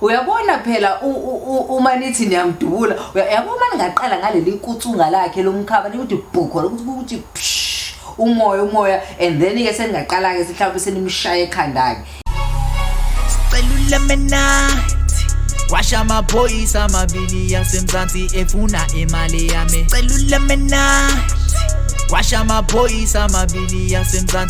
uyabona phela uma nithi niyamdubula yabo uma ningaqala ngaleli nkutsunga lakhe lomkhaba nikuthi bhukho lokuthi kuthi umoya umoya and then ke seningaqala-ke sihlawumbe senimshaye ekhanda-ke washa amaphoyisa amabili yasemzansi efuna imali yami celula mina washa amaphoyisa amabili yasemzansi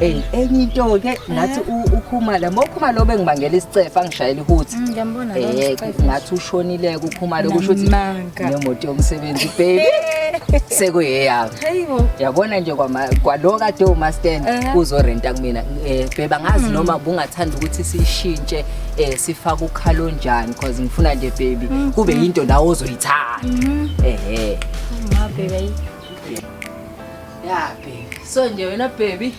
Hey, enye into ke nathi ukhumala mokhuma lo bengibangela isicefe angishayela ihuthi. Mm, ngiyambona lo. Eh, ngathi ushonile kukhumala kusho ukuthi nemoto yomsebenzi baby. Sekuyeyami. Hayibo. Yabona nje kwama kwalo kade uma stand eh. uzorenta kumina. Eh, bheba ngazi mm. noma bungathanda ukuthi sishintshe eh sifaka ukhalo njani because ngifuna nje baby mm, kube into nawo ozoyithanda. Mm-hmm. Ehhe. Uma baby. ya baby so nje wena baby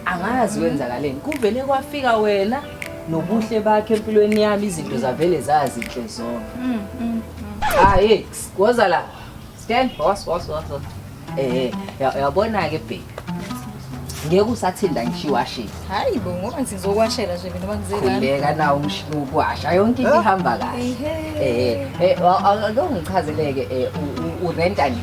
angazi kwenzakaleni kuvele kwafika wena nobuhle bakhe empilweni yami izinto zavele zazinhle zonke mm, mm, mm. hayi woza la stand was was was eh yabona ke baby ngeke usathinda ngisho iwashing hayi bo ngoba ngizokwashela nje mina bangizela ngeke nawo umshini ukwasha yonke into ihamba kahle eh eh akungichazeleke eh urenta nini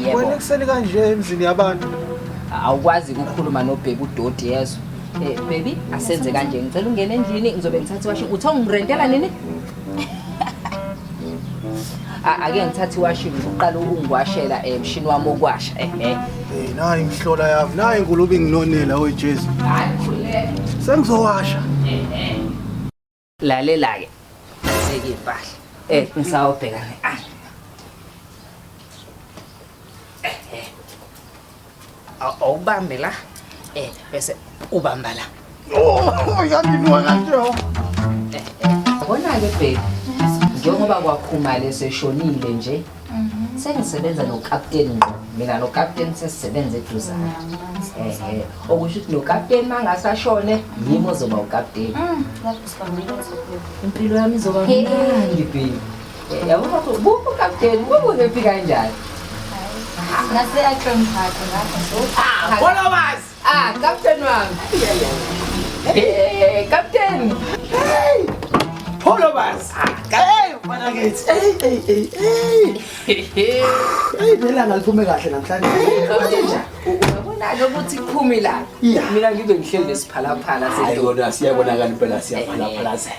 Yebo. Wena ekuseni kanje emzini yabantu. Awukwazi ukukhuluma nobhebi udoti yezo. Eh baby asenze kanje ngicela ungene endlini ngizobe ngithatha iwashi uthi ungirentela nini? Ake ngithathe iwashi ngiqala ukungiwashela emshini eh, wami okwasha eh eh. Hey nayi imhlola yami nayi ngulubi nginonela oyijesu. Hayi khuleka. Sengizowasha. Eh eh. lalela-ke aseke impahla um ngisawubheka ne-ayi awubambe la um bese ubamba la yandinwa kanjeo bona-ke bheki njengoba kwakhumale seshonile nje Mhm. sengisebenza nokapteni ngqo mina nokapteni sesisebenza eduzane ehe okusho ukuthi nokapteni uma ngase ashone yimi ozoba ukapteni Mm, lapho sibambile uzobuya. impilo yami izoba Hey. mnandi baby Eh, yabona ukuthi buphi ukapteni kubuze phi kanjani Nase ahloniphakhe lapho so. Followers! Ah, captain wami. Hey, captain. Hey. Polo bas. Hey, mfana kithi. Hey, hey, hey. Hey. Hey, phela ngaliphume kahle namhlanje. Uyabona lokuthi kuphumi la. Mina ngibe ngihleli nesiphalaphala sedoda siyabonakala impela siyaphalaphalazela.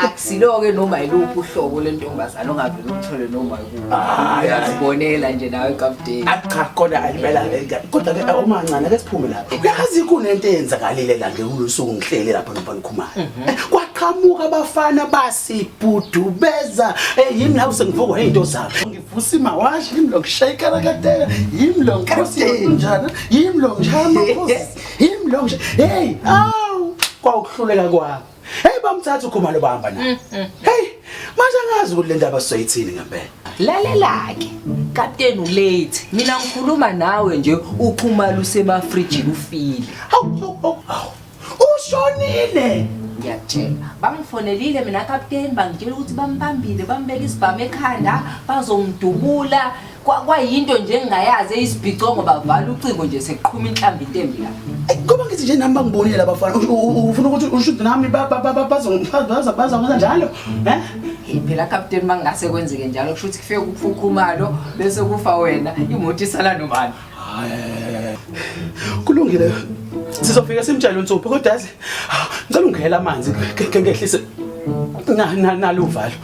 akusilo-ke noma yiluphi uhlobo lentombazane ongavele uthole noma uyazibonela nje nawe kapteni cha kodwa ayibela kodwa-ke omancane ke siphume lapho yazi kunento eyenzakalile la ngekulosuku ngihlele lapha nomfanikhumane mhm. eh, kwaqhamuka abafana basibhudubeza eh, yimi nawe sengivukwa yinto zabo ngivusa imawashi yimi lo ngishayikana kateka yimi lo nkosi njana yimi lo ngishaya amakhosi yimi lo ngisha heyi awu kwawukuhluleka kwakho Hey bamthatha ukhumalo bahamba naye. Mm, mm, mm. Hey manje angazi ukuthi le ndaba sizoyithini ngempela. Lalelake kapteni ulate mina ngikhuluma nawe nje ukhumalo usemafrijini ufile. Hawu hawu ushonile. ngiyakutshela bangifonelile mina kapteni bangitshela ukuthi bambambile bambeka isibhamu ekhanda bazomdubula Kwa- kwayinto nje engingayazi eyisibhicongo bavala ucingo nje seqhuma inhlamba intembi la Eyi, ngoba ngithi nje nami bangibonile abafana U- u- u- ufuna ukuthi ushuthi nami ba- ba- ba- ba- bazongifa- baza- bazongenza njalo Eh? Hey, phela kapteni uma kungase kwenzeke njalo kusho ukuthi kufike kufa ukhumalo bese kufa wena imoto isala nobani kulungile sizofika simtshele unsupho kodwa yazi ngicela ungihela amanzi ke ngehlise na na naluvalo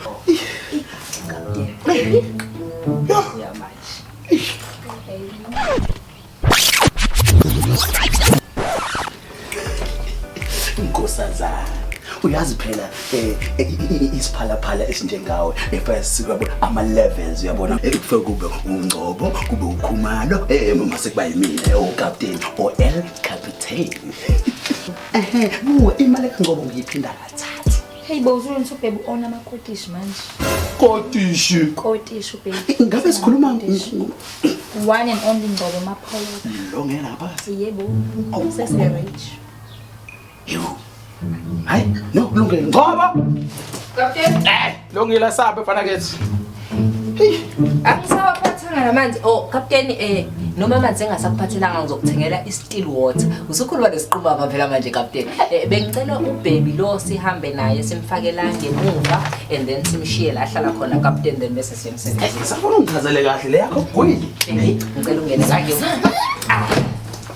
Nkosazana uyazi phela eh, eh, eh, isiphalaphala esinjengawe efaya sikwabo ama levels uyabona ekufike kube ungcobo kube ukhumalo eh mama sekuba yimina o oh, captain o oh, el captain ehe buka imali kangcobo ngiyiphinda kathathu Hey bo usho ukuthi ubhebe ona ama kotish manje. Kotish. Kotish ubhebe. Ngabe sikhuluma one and only Ngcobo Mapholo. Lo ngena ngaphakathi. Yebo. Oh. Sesi rich. Yebo. Hayi, no kulungile. Ngcobo. Captain. Eh, lo ngila sabe fana kethi. angisawaphathanga namanzi o oh, kapteni um noma amanzi engasakuphathelanga ngizokuthengela i-steel water usukhuluma nesiqumama phela manje kapteni um bengicela ubhebi lo sihambe naye simfakela ngemuva and then simshiye la ahlala khona kapteni then bese siyemsebenzisa safuna ungichazele kahle le yakho gwini ngicela ungene la